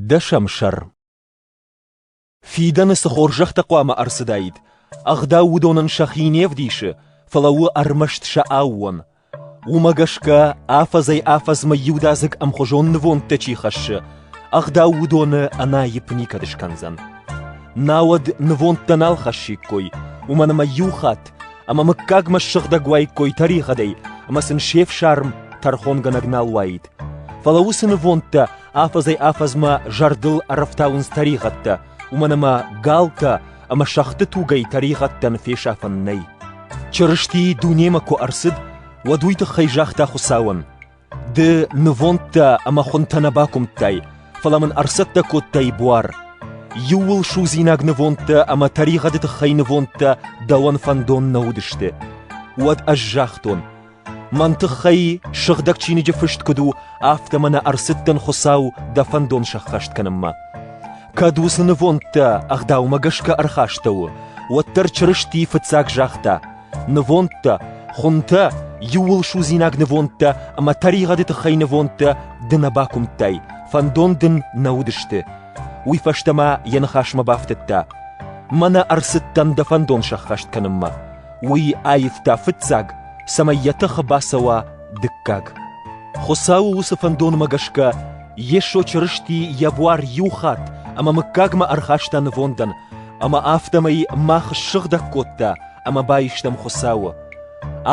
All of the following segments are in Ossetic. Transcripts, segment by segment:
Дӕсӕм сӕр Фидӕны цы хорзӕхтӕ хъуамӕ ӕрцыдаид, ӕгъдау уыдонӕн сӕхи не вдисы, фӕлӕ у ӕрмӕст сӕ аууон. Уымӕ гӕсгӕ афӕдзӕй-афӕдзмӕ иудадзыг ӕмхуызон нывондтӕ чи хӕссы, ӕгъдау уыдоны ӕнаипп никӕд скӕндзӕн. Науӕд нывондтӕ нал хӕссиккой, уымӕн ӕмӕ иу хатт ӕмӕ мыггагмӕ ссыгъдӕг уаиккой тӕригъӕдӕй, ӕмӕ сын се фсарм тӕрхонгӕнӕг нал уаид. Фӕлӕ уыцы нывондтӕ афӕдзӕй-афӕдзмӕ зӕрдыл ӕрӕфтауынц тӕригъӕдтӕ, уымӕн ӕмӕ галтӕ ӕмӕ сӕгъты тугӕй тӕригъӕдтӕн фесӕфӕн нӕй. Чырысти дунемӕ куы ӕрцыд, уӕд уый тыххӕй загъта Хуыцауӕн: «Ды нывондтӕ ӕмӕ хуынтӕ нӕ бакуымдтай, фӕлӕ мын ӕрцӕттӕ кодтай буар. Иууыл судзинаг нывондтӕ ӕмӕ тӕригъӕды тыххӕй нывондтӕ дӕуӕн фӕндон нӕ уыдысты. Уӕд ӕз загътон: Мӕн тыххӕй, сыгъдӕг чиныджы фыст куыд у, афтӕ мӕ нӕ ӕрцыдтӕн Хуыцау дӕ фӕндон сӕххӕст кӕнынмӕ. Кӕд уыцы нывондтӕ ӕгъдаумӕ гӕсгӕ ӕрхастӕуы, уӕддӕр Чырысти фыццаг загъта: нывондтӕ, хуынтӕ, иууыл судзинаг нывондтӕ ӕмӕ тӕригъӕды тыххӕй нывондтӕ ды нӕ бакуымдтай, фӕндон дын нӕ уыдысты. Уый фӕстӕ ма йӕ ныхасмӕ бафтыдта: Мӕнӕ ӕрцыдтӕн дӕ фӕндон сӕххӕст кӕнынмӕ. уый аивта фыццаг, цӕмӕй йӕ тыхы бацӕуа дыккаг. Хуыцауы уыцы фӕндонмӕ гӕсгӕ Йесо Чырысти йӕ буар иу хатт ӕмӕ мыггагмӕ ӕрхаста нывондӕн, ӕмӕ афтӕмӕй мах ссыгъдӕг кодта ӕмӕ баистӕм Хуыцауы.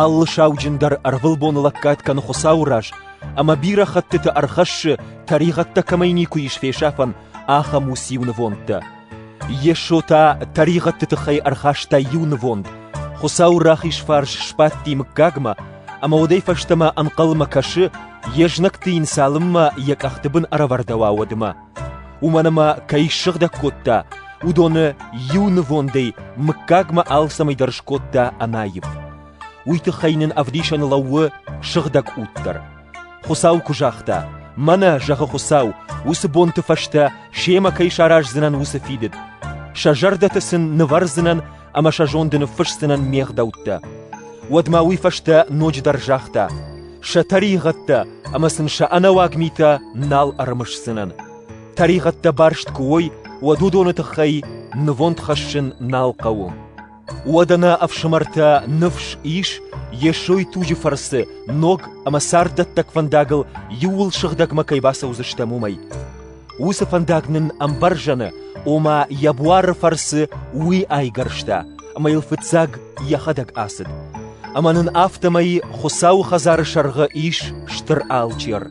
Алы сауджын дӕр ӕрвылбон лӕггад кӕны Хуыцауы раз ӕмӕ бирӕ хӕттыты ӕрхӕссы, тӕригъӕдтӕ кӕмӕй никуы ис фесӕфӕн, ахӕм уыциу нывондтӕ. Йесо та тӕригъӕдты тыххӕй ӕрхаста иу нывонд. Хуыцауы рахизфарс сбадти мыггагмӕ, ӕмӕ уӕдӕй фӕстӕмӕ ӕнхъӕлмӕ кӕсы, йе знӕгты йын цалынмӕ йӕ къӕхты бын ӕрӕвӕрдӕуа, уӕдмӕ. Уымӕн ӕмӕ кӕй ссыгъдӕг кодта, уыдоны иу нывондӕй мыггагмӕ алцӕмӕй дӕр скодта анаипп. Уый тыххӕй нын ӕвдисӕн лӕууы сыгъдӕг уд дӕр. Хуыцау куы загъта, мӕнӕ, зӕгъы Хуыцау, уыцы бонты фӕстӕ семӕ кӕй сараздзынӕн уыцы фидыд, сӕ зӕрдӕты сын нывӕрдзынӕн ӕмӕ сӕ зонды ныффысдзынӕн ме гъдӕуттӕ. Уӕдмӕ уый фӕстӕ ноджыдӕр загъта: сӕ тӕригъӕдтӕ ӕмӕ сын сӕ ӕнӕуаг митӕ нал ӕрымысдзынӕн. Тӕригъӕдтӕ барст куы уой, уӕд уыдоны тыххӕй нывонд хӕссын нал хъӕуы. Уӕдӕ нӕ ӕфсымӕртӕ ныфс ис Йесойы туджы фӕрцы ног ӕмӕ царддӕттӕг фӕндагыл иууыл сыгъдӕгмӕ кӕй бацӕудзыстӕм, уымӕй. Уыцы фӕндаг нын ӕмбӕрзӕны, ома йӕ буары фӕрцы уый айгӕрста ӕмӕ йыл фыццаг йӕхӕдӕг ацыд. Ӕмӕ нын афтӕмӕй Хуыцауы хӕдзары сӕргъы ис стыр алчер.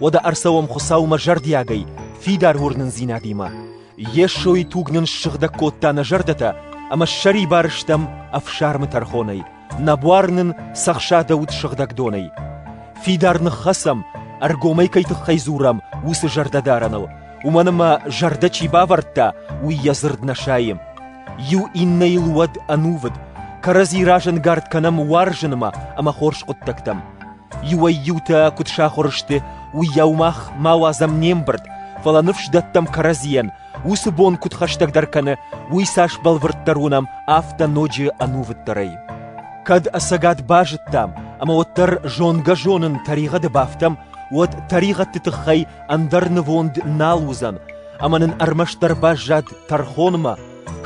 Уӕдӕ ӕрцӕуӕм Хуыцаумӕ зӕрдиагӕй, фидар уырнындзинадимӕ. Йесойы туг нын ссыгъдӕг кодта нӕ зӕрдӕтӕ, ӕмӕ ссӕрибар стӕм ӕфсармы тӕрхонӕй, нӕ буар нын цӕхсадӕуыд сыгъдӕг донӕй. Фидар ныххӕцӕм, ӕргомӕй кӕй тыххӕй дзурӕм, уыцы зӕрдӕдарӕныл, уымӕн ӕмӕ зӕрдӕ чи бавӕрдта, уый йӕ дзырд нӕ сайы. Иу иннӕйыл уӕд ӕнувыд, кӕрӕдзи разӕнгард кӕнӕм уарзынмӕ ӕмӕ хорз хъуыддӕгтӕм. Иуӕй-иутӕ куыд сахуыр сты, уыйау мах ма уадзӕм не мбырд, фӕлӕ ныфс дӕттӕм кӕрӕдзийӕн, уыцы бон куыд хӕстӕгдӕр кӕны, уый цас бӕлвырддӕр уынӕм, афтӕ ноджы ӕнувыддӕрӕй. Кӕд ӕцӕгад базыдтам, ӕмӕ уӕддӕр зонгӕ-зонын тӕригъӕды бафтӕм, уӕд тӕригъӕдты тыххӕй ӕндӕр нывонд нал уыдзӕн, ӕмӕ нын ӕрмӕстдӕр баззад тӕрхонмӕ,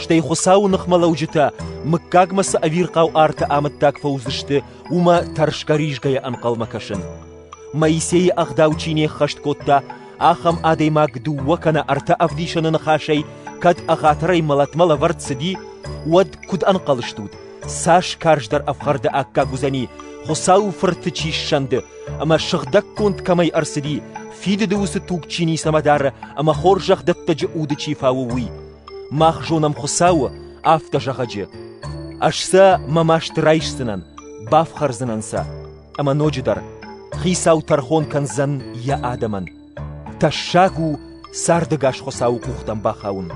стӕй Хуыцауы ныхмӕлӕуджытӕ мыггагмӕ цы ӕвирхъау арты амыддаг фӕуыдзысты, уымӕ тӕрсгӕ-ризгӕйӕ ӕнхъӕлмӕ кӕсын. Моисейы ӕгъдау чи не ххӕст кодта, ахӕм адӕймаг дыууӕ кӕнӕ ӕртӕ ӕвдисӕны ныхасӕй, кӕд ӕгъатырӕй мӕлӕтмӕ лӕвӕрд цыди, уӕд куыд ӕнхъӕлстут, цас карздӕр ӕфхӕрды аккаг уыдзӕни, Хуыцауы Фырты чи ссӕнды ӕмӕ сыгъдӕггонд кӕмӕй ӕрцыди, фидыды уыцы туг чи ницӕмӕ дары ӕмӕ хорзӕх дӕттӕджы уды чи фауы, уый? Мах зонӕм Хуыцауы афтӕ зӕгъӕджы. Ӕз сӕ мӕ маст райсдзынӕн, бафхӕрдзынӕн сӕ. Ӕмӕ ноджыдӕр, Хицау тӕрхон кӕндзӕн йӕ адӕмӕн. Тӕссаг у цардӕгас Хуыцауы къухтӕм бахауын.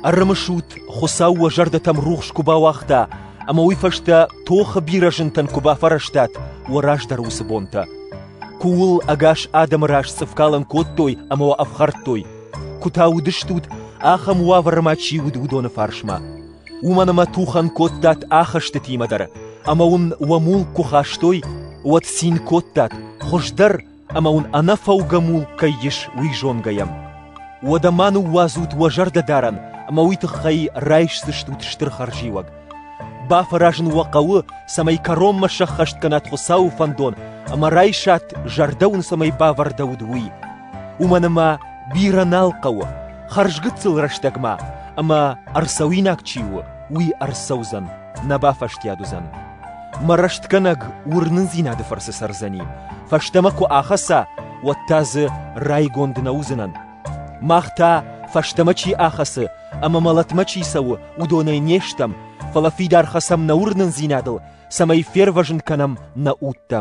Ӕрымысут, Хуыцау уӕ зӕрдӕтӕм рухс куы бауагъта ӕмӕ уый фӕстӕ тохы бирӕ зынтӕн куы бафӕрӕзтат уӕ раздӕры уыцы бонтӕ. Куы уыл ӕгас адӕмы раз цъыфкалӕн кодтой ӕмӕ уӕ ӕфхӕрдтой, Куы та уыдыстут, ахӕм уавӕрмӕ чи уыд, уыдоны фарсмӕ. Уымӕн ӕмӕ тухӕн кодтат ахӕстытимӕ дӕр, ӕмӕ уын уӕ мулк куы хастой, уӕд цин кодтат хуыздӕр ӕмӕ уын ӕнӕфӕугӕ мулк кӕй ис, уый зонгӕйӕ. Уӕдӕ ма ныууадзут уӕ зӕрдӕдарӕн, ӕмӕ уый тыххӕй райсдзыстут стыр хӕрзиуӕг. Бафӕразын уӕ хъӕуы, цӕмӕй кӕронмӕ сӕххӕст кӕнат Хуыцауы фӕндон, ӕмӕ райсат, зӕрдӕ уын цӕмӕй бавӕрдӕуыд, уый, Уымӕн ӕмӕ бирӕ нал хъӕуы, хӕрзгыццыл рӕстӕгмӕ ӕмӕ ӕрцӕуинаг чи у, уый ӕрцӕудзӕн, нӕ бафӕстиат уыдзӕн. Мӕ рӕстгӕнӕг уырнындзинады фӕрцы цӕрдзӕни, фӕстӕмӕ куы ахӕца, уӕд та дзы райгонд нӕ уыдзынӕн. Мах та фӕстӕмӕ чи ахӕцы ӕмӕ мӕлӕтмӕ чи цӕуы, уыдонӕй не стӕм, фӕлӕ фидар хӕцӕм нӕ уырнындзинадыл, цӕмӕй фервӕзын кӕнӕм нӕ удтӕ.